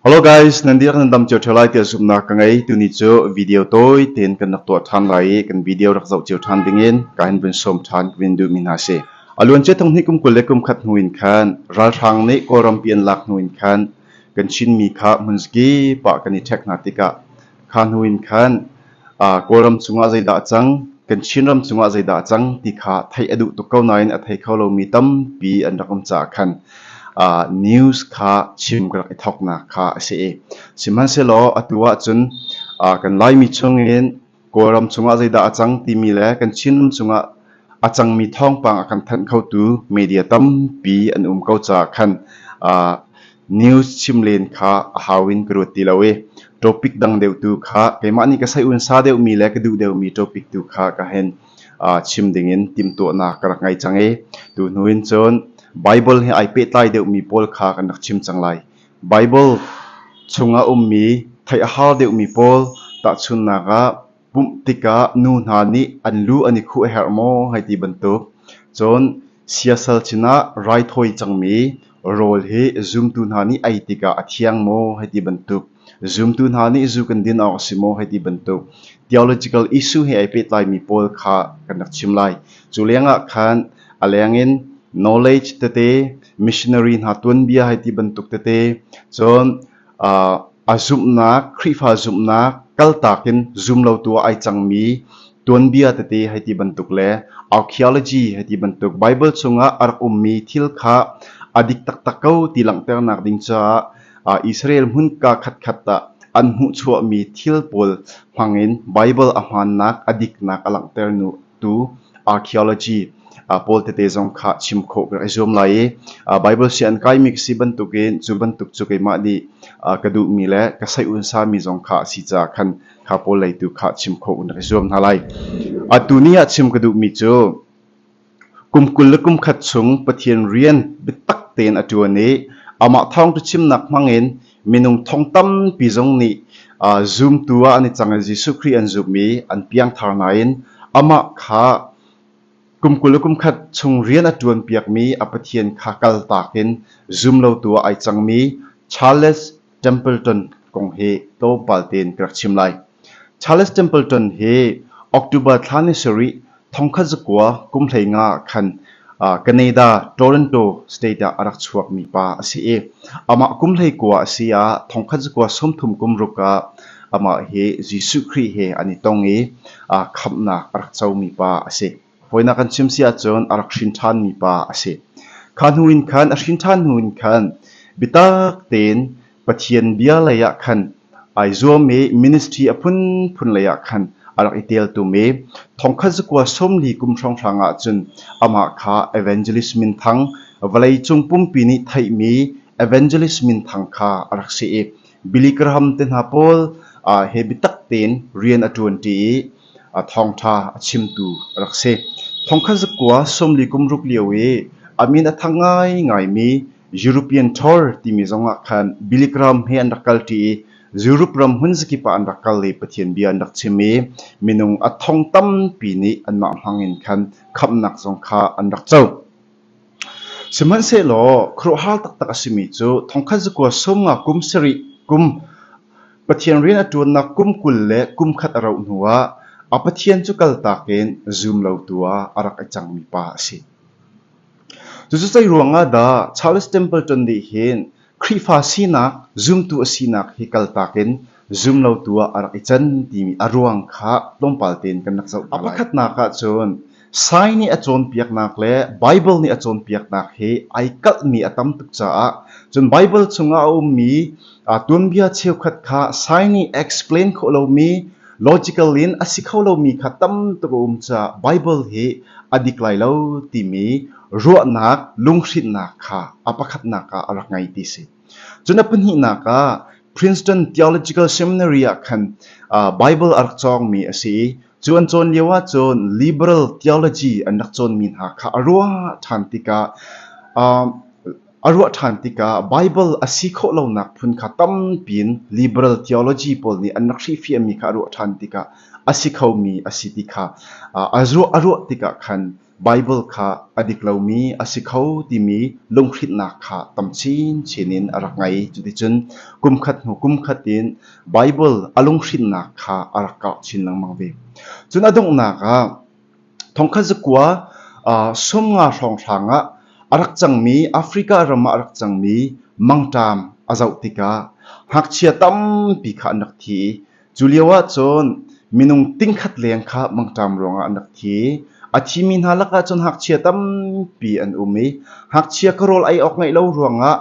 Hello guys, nan dihlak nan dam cio ṭheo lai tiah zumhnak ka ngei. Tuni cu video tawi tein kan rak tuah ṭhan lai i kan video rak zoh cio ṭhan dingin ka hin vun sawm ṭhan ka vin duhmi hna si. A luancia hnihnih kum kul le kum khat hnu in khan ralhrang nih Kawlrampi an lak hnu in khan kan Chinmi kha hmunzki pah kan i ṭhek hna tikah Kha hnu in khan Kawlram cungah zeidah a cang, kan Chinram cungah zeidah a cang ti kha theih a duh tuk ko nain a thei kho lomi tampi an rak um caah khan news kha chim ka rak i thawknak kha a si i sihmanhsehlaw atu ahcun kan Laimi chung in Kawlram cungah zeidah a cang timi le kan Chinram cungah a cangmi thawngpang a kan thanh khotu media tampi an um ko caah khan uh, news chim len kha a hau in ka ruat ti lo i topic dang deuh tu kha keimah nih ka sai unsa deuhmi le ka duh deuhmi topic tu kha ka hen uh, chim ding in timtuahnak ka rak ngei cang i tu hnu in cun Bible he ai pehtlai deuhmi pawl kha kan rak chim cang lai Bible chung a ummi theih a hal deuhmi pawl tahchunnak ah pumh tikah nu hna nih an lu an i khuh a herh maw hei ti bantuk. Cun siasal sinah raithawi cangmi rawl hi zumtu hna nih ei tikah a thiang maw hei ti bantuk. Zumtu hna nih zu kan din awk a si maw hei ti bantuk. Theological issue he ai pehtlaimi pawl kha kan rak chim lai. Cu lengah khan a lengin knowledge tete, missionary hna tuanbia hai ti bantuk tete, cun A zumhnak, Khrihfa zumhnak kaltak in zumlotu ah ai cangmi tuanbia tete hei ti bantuk le archaeology hei ti bantuk Bible chungah a rak ummi thil kha a dik taktak ko ti langhternak ding caah Israel hmun ka khatkhat ah an hmuhchuahmi thil pawl hmangin Bible a hmaannak a diknak a langhter nu. tu archaeology pawl tete zong kha chim khawh ka zuam lai i Baibal si an kaimi ka si bantukin cu bantuk cu keimah nih ka duhmi le ka saihun sami zong kha a si caah khan kha pawl lei tu kha chim khawh na ka zuam hna lai. Atu ni ah chim ka duhmi cu kum kul le kum khat chung Pathian rian biatak tein a ṭuan i amah thawng cu chimnak hmangin Minung thong tampi zong nih zumtu ah an i cang i Jesuh Khrih an zumh i an piangthar nain amah kha kum kul le kumkhat chung rian a ṭuanpiakmi a Pathian kha kaltak in zumlotu ah ai cangmi Charles Templeton kong hi tlawmpal tein ka rak chim lai. Charles Templeton hi October thla ni sarih thongkhat zakua kum hleinga ah khan Canada, Toronto state ah a rak chuakmi pa a si i amah kum hleikua a si ah thongkhat zakua sawmthum kum ruk ah amah hi Jesuh Khrih he an i tong i khamhnak a rak comi pa a si. Voinak kan chim si ahcun a rak hrin ṭhanmi pa a si. Kha hnu in khan, a hrin ṭhan hnu in khan, biatak tein Pathian bia lei ah khan ai zuam i ministry a phunphun lei ah khan a rak i teltum i thongkhat zakua sawmli kum hrawnghrang ah cun amah kha evangelist minthang vawleicung pumpi nih theihmi evangelist minthang kha a rak si i Billy Graham te hna pawl ah he biatak tein rian a ṭuanṭi i a thawngṭha a chimtu rak si. Thongkhat zakua sawmli kum ruk lio i a min a thang ngaingaimi European Tour timi zongah khan Billy Graham he an rak kalṭi i Europe ram hmun zakip ah an rak kal i Pathian bia an rak chim i minung a thong tampi nih anmah hmangin khan khamhnak zong kha an rak co. Sihmanhsehlaw khuaruahhar taktak a simi cu thongkhat zakua sum nga kum sarih kum, Pathian rian a ṭuannak kum kul le kum khat a rauh hnuah a Pathian cu kaltak in zum lotu ah a rak i cangmi pa a si. Cucu zei ruangah dah Charles Temple ṭon nih hin Khrihfa sinak zumtu a sinak hi kaltak in zumlotu ah a rak i can timi a ruang kha tlawmpal tein kan rak zoh hna A pakhatnak ahcun Sai nih a cawnpiaknak le Baibal nih a cawnpiaknak hi ai kalhmi a tam tuk caah cun Baibal chungah a ummi aa tuanbia cheukhat kha Sai nih explain khawh lomi logical in a si kho lomi kha tam tuk a um caah Baibal hi a dik lai lo timi ruahnak lunghrinhnak kha a pakhatnak ah a rak ngei ti si. Cun a pahnihnak ah Princeton Theological Seminary ah khan uh, Bible a rak cawngmi a si i cu an cawn lio ahcun liberal theology an rak cawnmi hna kha a ruah ṭhan tikah uh, a ruah ṭhan tikah Bible a si khawh lonak phun kha tampi in liberal theology pawl nih an rak hrifiahmi kha a ruah ṭhan tikah a si khomi a si ti kha uh, a, ruah, a ruah tikah khan Baibal kha a dik lomi a si kho timi lunghrinhnak kha tam chinchin in a rak ngei. Cuticun kumkhat hnu kumkhat in Baibal a lunghrinhnak kha a rak karh chin lengmang ve. Cun a donghnak ah thongkhat zakua uh, sum nga hrawnghrang ah a rak cangmi Africa ram ah a rak cangmi mangṭam a zoh tikah ngakchia tampi kha an rak thi i Cu lioah cun minung tingkhat leng kha mangṭam ruangah an rak thi. A thimi hna lakah cun ngakchia tampi an um i ngakchia ka rawl ei awk ngeih lo ruangah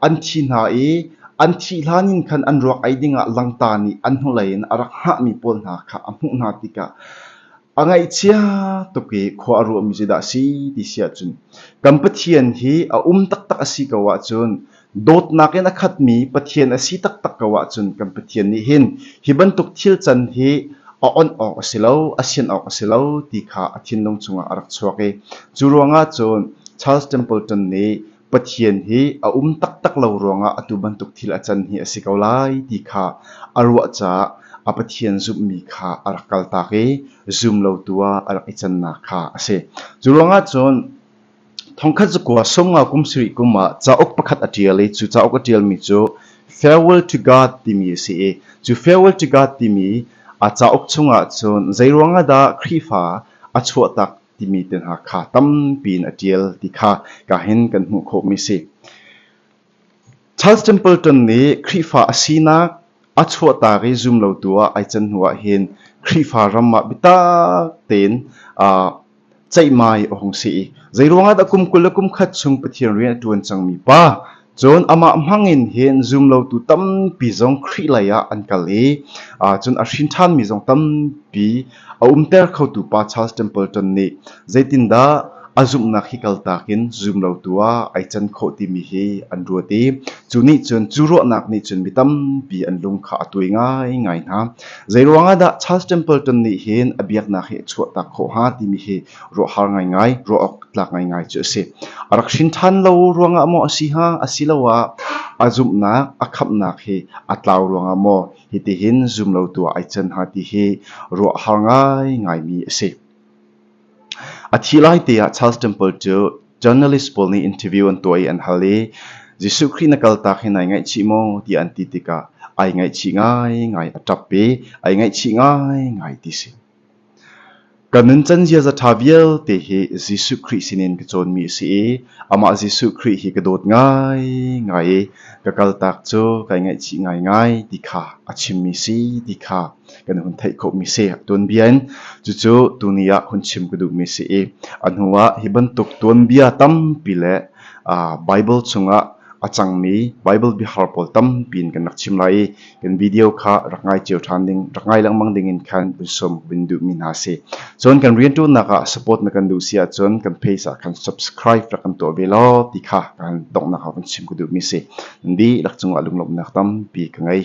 an thi hna i an thih hlan in khan an ruak ei dingah langta nih an hnulei in a rak hngahmi pawl hna kha a hmuh hna tikah a ngaihchia tuk i khua a ruahmi cu dah a si ti si ahcun kan Pathian hi a um taktak a si ko ahcun dawtnak in a khatmi Pathian a si taktak ko ahcun kan Pathian nih hin hi bantuk thil can hi a onh awk a si lo, a sin awk a si lo ti kha a thinlung chungah a rak chuak i cu ruangah cun Charles Templeton nih Pathian hi a um taktak lo ruangah atu bantuk thil a can hi a si ko lai ti kha a ruah caah a Pathian zumhmi kha a rak kaltak i zum lo tu ah a rak i cannak kha a si. Cu ruangah cun Thongkhat zakua Sawmnga kum sarih kum ah cauk pakhat a ṭial i cu cauk a ṭialmi cu Farewell to God timi a si i cu Farewell to God timi a cauk chungah cun zeiruangah dah Khrihfa a chuahtak timi te hna kha tampi in a ṭial ti kha ka hin kan hmuh khawhmi a si. Charles Templeton nih Khrihfa a sinak a chuahtak i zum lotu ah ai can hnuah hin Khrihfa ram ah biatak tein aa ceihmai a hung si i zeiruangah dah kum kul le kum khat chung Pathian rian a ṭuan cangmi pa cun amah hmangin hin zumlotu tampi zong Khrih lei ah an kal i cun a hrinṭhanmi zong tampi A umter khotu pa Charles Templeton nih zeitindah a zumhnak hi kaltak in zumlotu ah ai can khawh timi hi an ruat i cu nih cun cu ruahnak nih cun mi tampi an lung kha a tuai ngaingai hna. Zeiruangah dah Charles Templeton nih hin a biaknak hi a chuahtak khawh hnga timi hi ruahhar ngaingai, ruah awk tlak ngaingai cu a si. A rak hrin ṭhan lo ruangah maw a si hnga, asiloah a zumhnak, a khamhnak hi a tlau ruangah maw Hitihin zum lo tuah ai can hnga ti hi ruahhar ngaingaimi a si. A thih lai te ah Charles Temple cu journalist pawl nih interview an tuah i an hal i Jesuh Khrih na kaltak hi nai ngaihchih maw ti an ti tikah ai ngaihchih ngaingai a ṭap i ai ngaihchih ngaingai ti si. Ka nuncan ziaza ṭha vialte hi Jesuh Khrih sinin ka cawnmi a si i amah Jesuh Khrih hi ka dawt ngaingai i ka kaltak cu kai ngaihchih ngaingai ti kha a chimmi si ti kha kan hun theih khawhmi si. A tuanbia in cucu tuni ah hun chim ka duhmi si i a hnuah hi bantuk tuanbia tampi le Baibal chungah a cangmi Baibal biahar pawl tampi in kan rak chim lai i Kan video kha rak ngai cio ṭhan ding, rak ngai lengmang ding in khan vun sawm vun duhmi hna si. Cun kan rianṭuannak ah support na kan duh si ahcun kan page ah khan subscribe rak kan tuah ve law ti kha kan donghnak ah vun chim ku duhmi si. Di lak cungah lunglawmhnak tampi ka ngei.